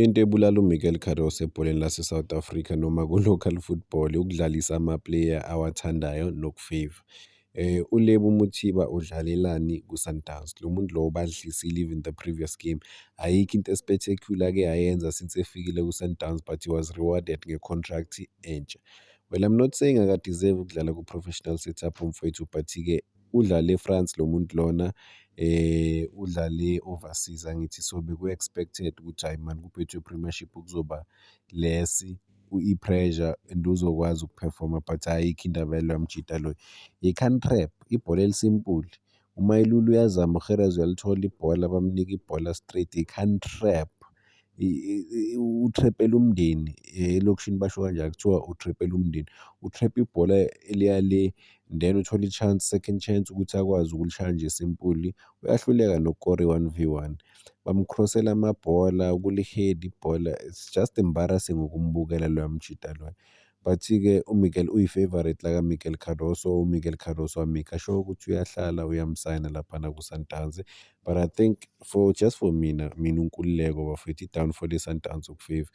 Into ebulala uMiguel Cardoso ebholeni laseSouth Africa noma ku-local football ukudlalisa ama-player awathandayo nokufeyva. ULebo Mothiba udlalelani kuSundowns? Lo muntu lo ubadlisile even the previous game. Ayikho into e-spectacular ake ayenza since efikile kuSundowns but he was rewarded nge-contract entsha. Well I'm not saying aka-deserve ukudlala ku-professional setup umfwethu but-ke. Udlale France lo muntu lona, udlale overseas angithi so beku-expected ukuthi hhayi mani kuphethwe i-Premiership kuzoba less i-pressure and uzokwazi ukuphefoma but ayikho indaba yaloya mjita loyo. Yi-can trap, ibhola elisimple. UMailulu uyazama, uGeras uyalithola ibhola bamnike ibhola straight, yi-can trap. u-trap-ela umndeni elokishini basho kanjalo kuthiwa u-trap-ela umndeni. U-trap-a ibhola eliya le then uthole i-chance, second chance ukuthi akwazi ukulishaya nje simpuli, uyahluleka nokukora i-one V one. Bamukhrosela amabhola, kuli-head ibhola, it's just embarrassing ukubukela loya mjita loya. But-ke uMiguel uyi-favourite la kaMiguel Cardoso. UMiguel Cardoso amika sure ukuthi uyahlala uyamsayina laphana kuSundowns. But I think for just for mina, mina uNkululeko bafethu i-downfall yeSundowns ukufeva.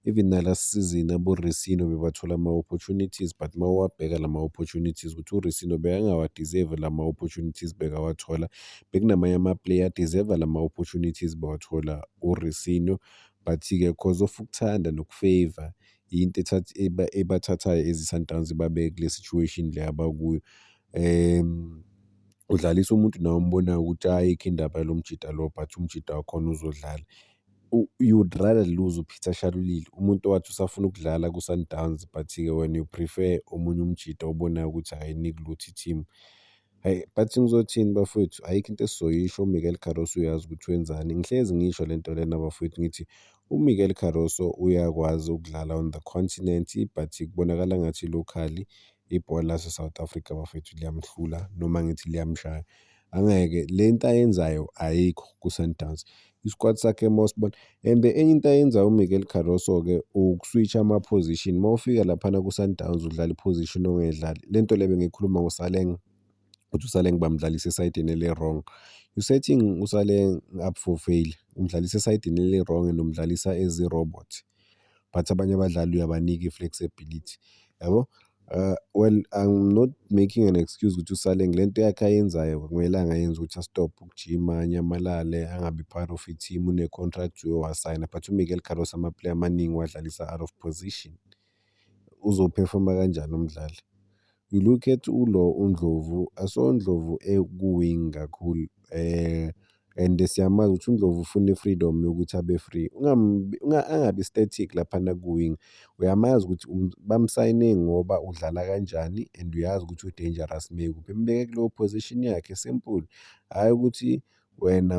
Even nalast season aboRisino bebathola ama-opportunities but uma uwabheka la ma-opportunities ukuthi uRisino bekangawadeserve la ma-opportunities bekawathola. Bekunamanye ama-player adeserve la ma-opportunities bawathola uRisino. But-ke cause of ukuthanda nokufeva yinto ethatha eba ebathathayo as iSundowns ibabe kule situation le abakuyo. Udlalisa umuntu nawe ombonayo ukuthi ayikho indaba yalo mjita lo but umjita wakhona uzodlala. You would rather lose uPeter Shalulile umuntu owathi usafuna ukudlala kuSundowns but-ke wena you prefer omunye umjita obonayo ukuthi hhayi ayinikilutho i-team. Hhayi but ngizothini bafowethu ayikho into esizoyisho uMiguel Carroso uyazi ukuthi wenzani ngihlezi ngisho le nto lena bafowethu ngithi uMiguel Carroso uyakwazi ukudlala on the continent but kubonakala ngathi locally ibhola lase-South Africa bafowethu liyamhlula noma ngithi liyamshaya angeke le nto ayenzayo ayikho ku-Sundowns isquad sakhe Mosbon and the enye into ayenza uMiguel Cardoso ke ukuswitch ama position mawufika laphana ku Sundowns udlala iposition ongedlali lento lebe ngikhuluma ngoSaleng ukuthi uSaleng bamdlalisa esayidini ele wrong you setting uSaleng up for fail umdlalisa esayidini ele wrong and umdlalisa as a robot but abanye abadlali uyabanika i-flexibility yabo Uh, well I'm not making an excuse ukuthi usale ngile nto yakhe ayenzayo kumele angayenzi ukuthi astop ukujima anyamalale angabi part of i-team une-contract wasayina but uMiguel Carlos amaplayer amaningi wadlalisa out of position uzophefoma kanjani umdlali You look at ulo uNdlovu, I saw uNdlovu eku-wing kakhulu um and siyamazi ukuthi uNdlovu ufuna i-freedom yokuthi abe free. Angabi static laphana ku-wing, uyamazi ukuthi um, bamsayine ngoba udlala kanjani and uyazi ukuthi u-dangerous mekuphi. Mbeke kuleyo position yakhe simple, hhayi ukuthi wena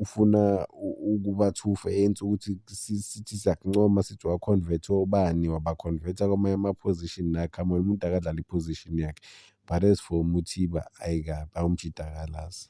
ufuna ukuba thufa yenza ukuthi sithi siyakuncoma sithi wakhonvetha obani wabakhonvetha kwamanye ama-position nakho amona umuntu akadlala i-position yakhe but as for Mothiba ayi kabi awumjidakalazi.